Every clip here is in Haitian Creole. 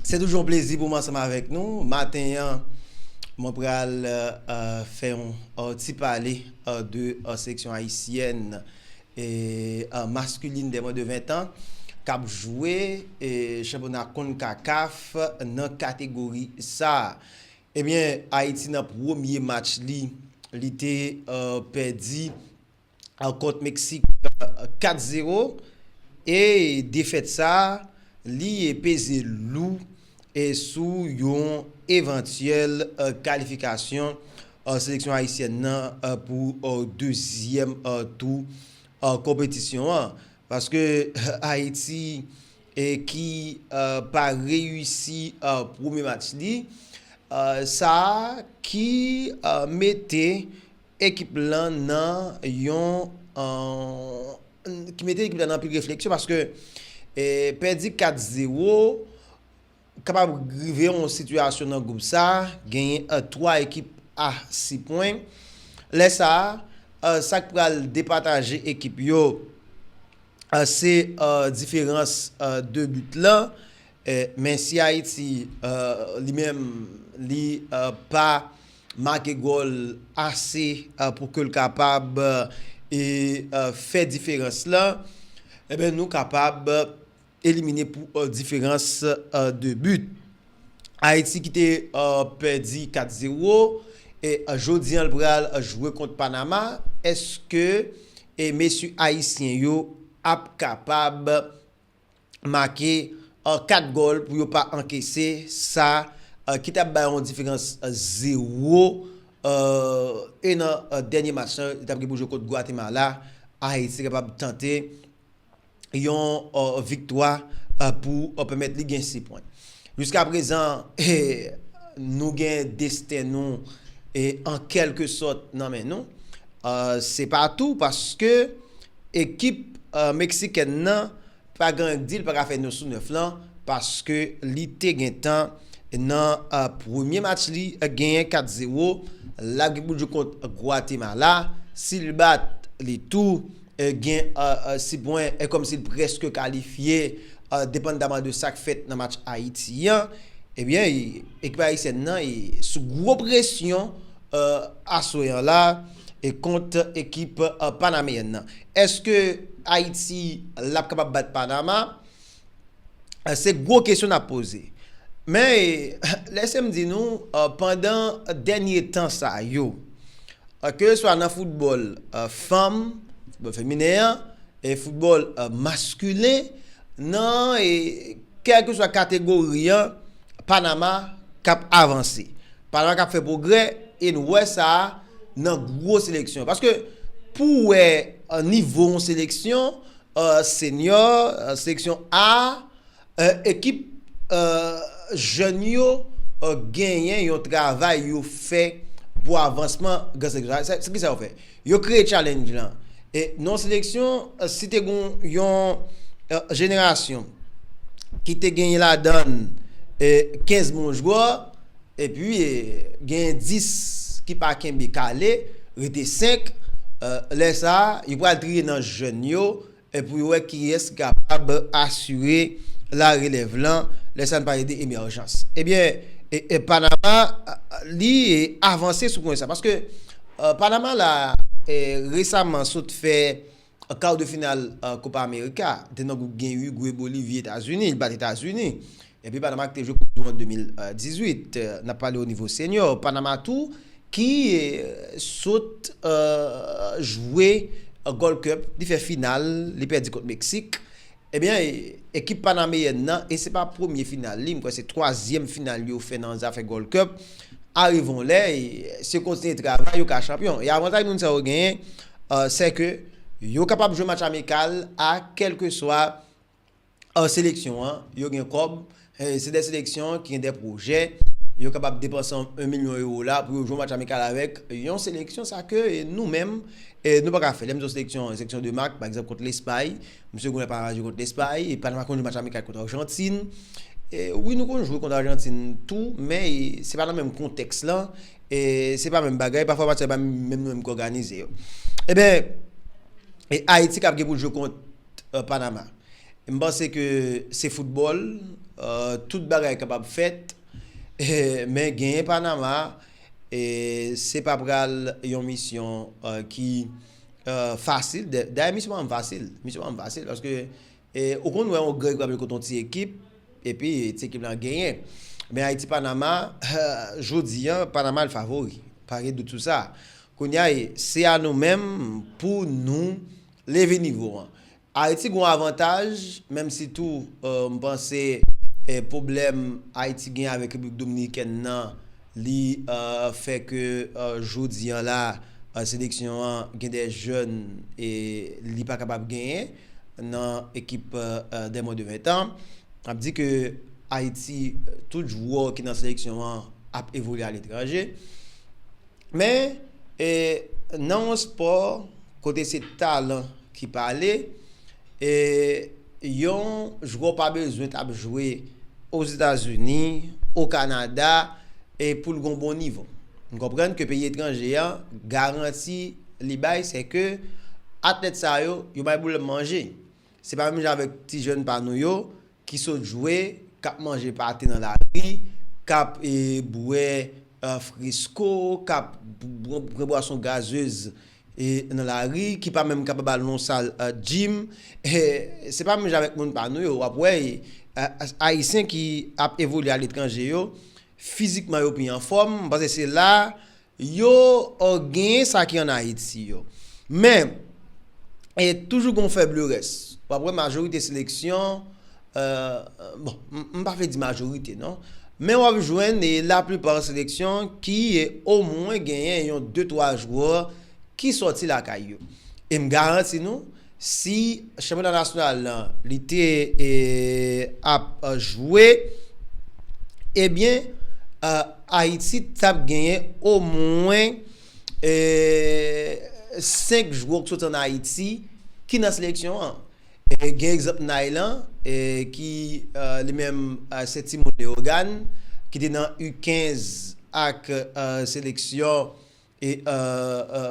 Se toujou yon plezi pou m ansanm avèk nou. Maten an, mwen pral fè yon ti pale de seleksyon ayisyèn maskulin dè mwen de 20 tan k ap jwe chanpyona konkakaf nan kategori sa a. Ebyen, Ayiti nan premye match li, li te pèdi kont Meksik 4 zero e defèt sa li peze lou sou yon evantyèl kalifikasyon seleksyon ayisyèn nan pou dezyèm tou konpetisyon an paske Ayiti ki pa reyisi premye match li sa ki mete ekip lan nan yon ki mete ekip la nan anpil refleksyon paske pèdi 4 zewo kapab rive yon sitiyasyon nan gwoup sa genyen 3 ekip a 6 pwen lè sa sak pral depataje ekip yo se diferans 2 but lan men si ayiti li menm li pa make gòl ase pou ke l kapab fè diferans la, enben nou kapab elimine pou diferans 2 but. Ayiti ki te pèdi 4 zero, e jodi an l pral jwe kont Panama, èske mesye ayisyen yo ap kapab. make 4 gòl pou yo pa ankese sa ki tap bay yon diferans 0 e nan dènye match lan li tap gen pou jwe kont Gwatemala Ayiti kapab tante yon viktwa pou pèmèt li gen 6 pwen. Jiska prezan nou gen desten nou an kèlke sòt nan men nou se pa tou paske Ekip meksikèn nan pa gen di l paka fè 9 sou 9 lan paske li te gentan nan premye match li genyen 4 zewo lap gen pou l jwe kont Gwatemala si l bat li tou gen 6 pwen kòmsi l prèske kalifye depandaman de sak fèt nan match Ayiti an ebyen ekip ayisyèn nan sou gwo presyon aswè an la. e kont ekip panameyèn nan. Eske Ayiti l ap kapab bat Panama? Se gwo kesyon n ap poze. Men, lese m di nou, pandan dènye tan sa yo, keseswa nan foutbòl fanm, foutbòl feminen an, e foutbòl maskilen, nan kèlkeswa kategori an, Panama k ap avanse. Panama k ap fè pwogrè e nou wè sa nan gwo seleksyon. Paske pou w wè nivo yon seleksyon, senyò, seleksyon A, ekip jèn yo genyen yon travay yo fè pou avansman gran seleksyon. Se ki sa yo fè? Yo kreye challenge lan. E nan yon seleksyon, si te gon yon jenerasyon ki te genyen ladann 15 bon jwè, epi genyen 10 ki pa kenbe kale, rete 5, lè sa a, yo pral triye nan jèn yo, Pou yo wè kiyès ki kapab asire la relèv lan lè sa n pale de emèjans. Ebyen, Panama li avanse sou pwen sa. Paske Panama la resaman sot fè kar de final Kopa Amerika. Te nan gwoup gen Urugwe, Bolivi, Etazini. Li bat Etazini. Epi Panama ki te jwe koup du mond 2018, n ap pale o nivo senyò. Panama tou ki sot jwe Gold Cup, li fè final, li pèdi kont Meksik. Ebyen, ekip panameyèn nan, e se pa premye final li, m kwè se twazyèm final yo fè nan zafè Gold Cup, arive yon lè, si yo kontinye travay, yo ka chanpyon. E avantaj moun sa yo genyen, sè ke yo kapab jwe match amikal a kèlkeswa an seleksyon an, yo gen kòb, se de seleksyon ki gen de pwojè, yo kapab depanse 1 milyon ewo la pou yo jwe yon match amikal avèk yon seleksyon sa ke nou menm nou pa ka fè. Lè m di yon seleksyon, yon seleksyon de mak, pa egzanp kont Lespay, msye Goulart pa ka jwe kont Lespay, epi nou pa konn jwe match amikal kont Arjantin. Wi nou konn jwe kont Arjantin tou, men se pa nan menm kontèks la, se pa menm bagay, pafwa match sa yo pa menm nou menm ki òganize yo. Eben, Ayiti kab gen pou l jwe kont Panama. M panse ke se foutbòl, tout bagay kapab fèt men genyen Panama se pa pral yon misyon ki fasil. Dayè misyon pa m fasil, misyon pa m fasil paske ou konn wè yon gran ekip ap jwe kont yon ti ekip epi ti ekip lan genyen. Men Ayiti Panama, jodi an Panama l favori, pa gen dout sou sa. Kounya se a nou menm pou nou. Leve nivo an. Ayiti gen yon avantaj, menm si tou m panse pwoblèm Ayiti gen avèk Repiblik Dominikèn nan li fè ke jodi an la seleksyon an gen de jèn li pa kapab genyen nan ekip dè mwen de 20 tan. N ap di ke Ayiti tout jwè ki nan seleksyon an ap evolye aletranje. Men, nan yon spò kote se talan ki pale, yon jwè w pa bezwen t ap jwe Ozetazini, Okanada pou l gen yon bon nivo. Nou konprann ke peyi etranje a, garanti li bay se ke atlèt sa yo, yo bay pwoblèm manje. Se pa menm jan avèk ti jèn pa nou yo. Ki sot jwe, k ap manje pate nan lari, k ap bwè fresko, k ap pran bwason gazez nan lari, ki pa menm kapab al nan yon sal jim, se pa menm jan avèk moun pa nou yo. W ap wè Ayisyen ki ap evolye aletranje yo, fizikman yo pi anfòm, m panse se la Yo genyen sa ki an Ayiti yo. Men, toujou gen yon fè blerès. W ap wè majorite seleksyon, bon, m pa vle di majorite non, men w ap jwenn laplipa seleksyon ki omwen genyen yon de twa jwè ki sòti lakay yo. E m garanti nou, Si chanpyona nasyonal lan li te ap jwe ebyen Ayiti t ap genyen omwen 5 jwè ki soti an Ayiti ki nan seleksyon an. Gen egzanp Nay lan ki li menm se timoun Leyogàn ki te nan U15 ak seleksyon. E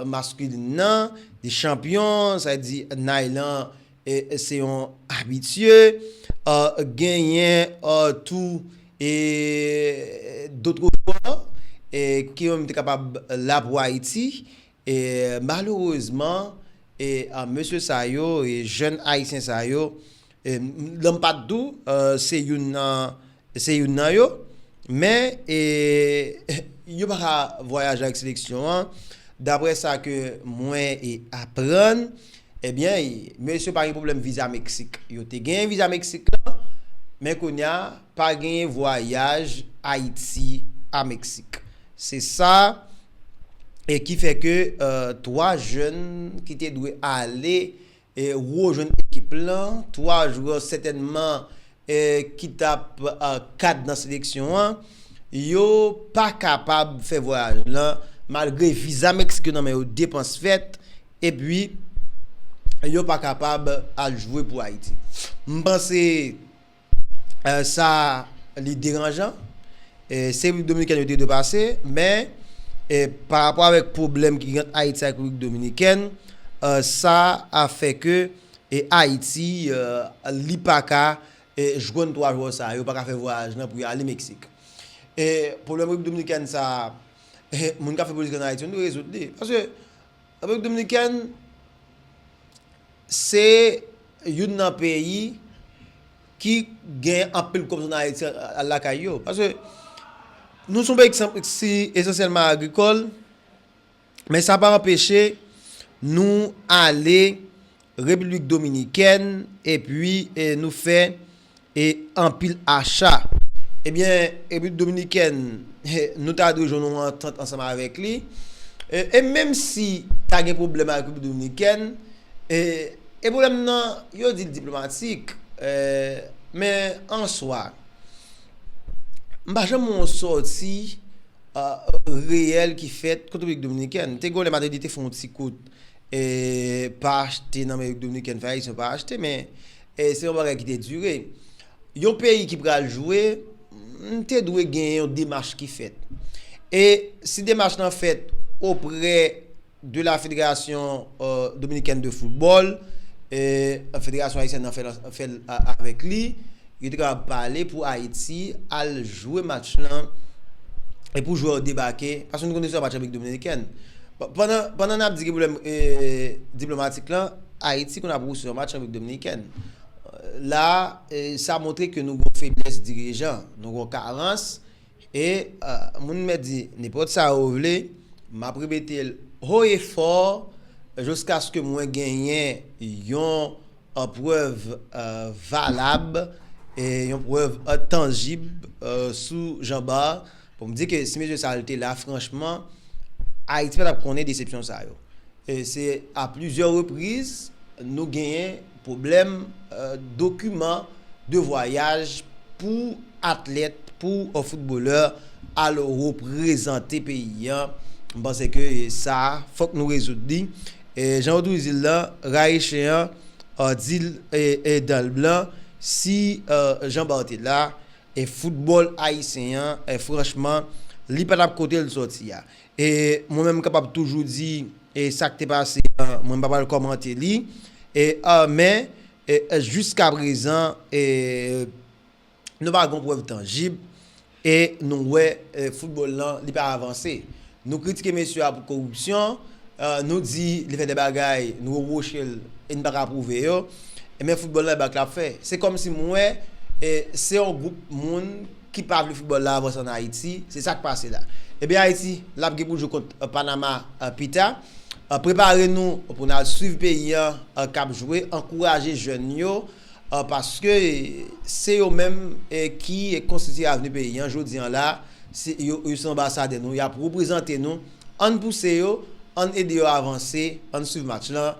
masculin nan li chanpyon sa vle di Nay lan se yon abitye. Genyen tou e d'autres joueurs ke yo menm te kapab la pou Ayiti. E malerezman e mesye sa yo, jèn ayisyen sa yo Lòm pa t dou, se youn nan se youn nan yo, men yo pa ka vwayaje ak seleksyon an, daprè sa ke mwen aprann, ebyen mesye yo pa gen pwoblèm viza Meksik, yo te genyen viza Meksik lan, men kounya pa genyen vwayaj Ayiti a Meksik, se sa ki fè ke 3 jèn ki te dwe ale. Ro jwenn ekip lan, 3 jwè sètènman ki t ap kad nan seleksyon an, yo pa kapab fè vwayaj lan malgre viza Meksik yo nan men yo, depans fèt epi yo pa kapab al jwe pou Ayiti. M panse. sa li deranjan, se Repiblik Dominikèn yo te dwe pase, men pa rapò avèk pwoblèm ki gen ant Ayiti ak Repiblik Dominikèn, sa a fè ke Ayiti li pa ka jwenn 3 jwè sa yo, pa ka fè vwayaj lan pou yo ale Meksik. Pwoblèm Repiblik Dominikèn sa a, moun k ap fè politik an Ayiti yo dwe rezoud li. Paske Repiblik Dominikèn se youn nan peyi ki gen anpil kòmsònn Ayiti lakay yo. Paske nou son peyi ki esansyèlman agrikòl, men sa pa anpeche nou ale Repiblik Dominikèn epi nou fè anpil acha. Ebyen, Repiblik Dominikèn, nou ta dwe jwenn yon antant ansanm avèk li. E menm si ta gen pwoblèm ak Repiblik Dominikèn, e pwoblèm nan yo di l diplomatik, men an swa, m pa janm wè yon sòti reyèl ki fèt kont Repiblik Dominikèn. Te gen yon lè m te di te fè yon ti kout E pa achte nan Repiblik Dominikèn fè Ayisyen pa achte men se yon bagay ki te dire. Yon peyi ki pral jwe te dwe gen yon demach ki fèt. E si demach lan fèt oprè de la Federasyon euh, Dominikèn de Foutbòl, e Federasyon Ayisyèn nan fèl avèk li, Yo te kapab pale pou Ayiti al jwe match lan e pou jwè yo debake, paske nou konnen se yon match Repiblik Dominikèn. Pandan, pandan n ap di gen pwoblèm e diplomatik lan, Ayiti konn ap wouse yon match Repiblik Dominikèn. La a, sa montre ke nou gen yon feblès dirijan, nou gen yon karans. E moun mèt di nenpòt sa yo vle, m ap repete l ho e fò jiskaske mwen genyen yon prèv valab, yon prèv tanjib sou Jean Bart pou m di ke si mesye sa yo te la franchman Ayiti pa t ap konnen desepsyon sa yo. Se a plizyè repriz nou genyen. Pwoblèm dokiman de vwayaj pou atlèt, pou foutbolè al reprezante peyi an, m panse ke sa a fòk nou rezoud li. Jan yo toujou di l lan, rayi chen an, di l dan l blan, si Jean Bart la, foutbòl ayisyen an franchman li pa t ap kote l sòti a. E mwen menm m kapab toujou di e sak te pase an mwen m pa pral kòmante li e a men e jiska prezan e nou pa gon prèv tanjib e nou wè e foutbòl lan li pa avanse. Nou kritike mesye a pou koripsyon e nou di li fè de bagay nou repwoche l e n pa ka pwouve yo men foutbòl lan e bak l ap fè. Se kòmsi m wè e se yon gwoup moun. ki pa vle football la avanse an Ayiti, se sak pase la. Ebyen Ayiti lap gen pou jwe kont Panama pita. Prepare nou pou n al swiv peyi an kap jwe, ankouraje jèn yo paske se yo menm ki konstitye avni peyi an. Jodi an la yo se anbasadè nou, yap reprezante nou, ann pouse yo, ann ede yo avanse, ann swiv match lan.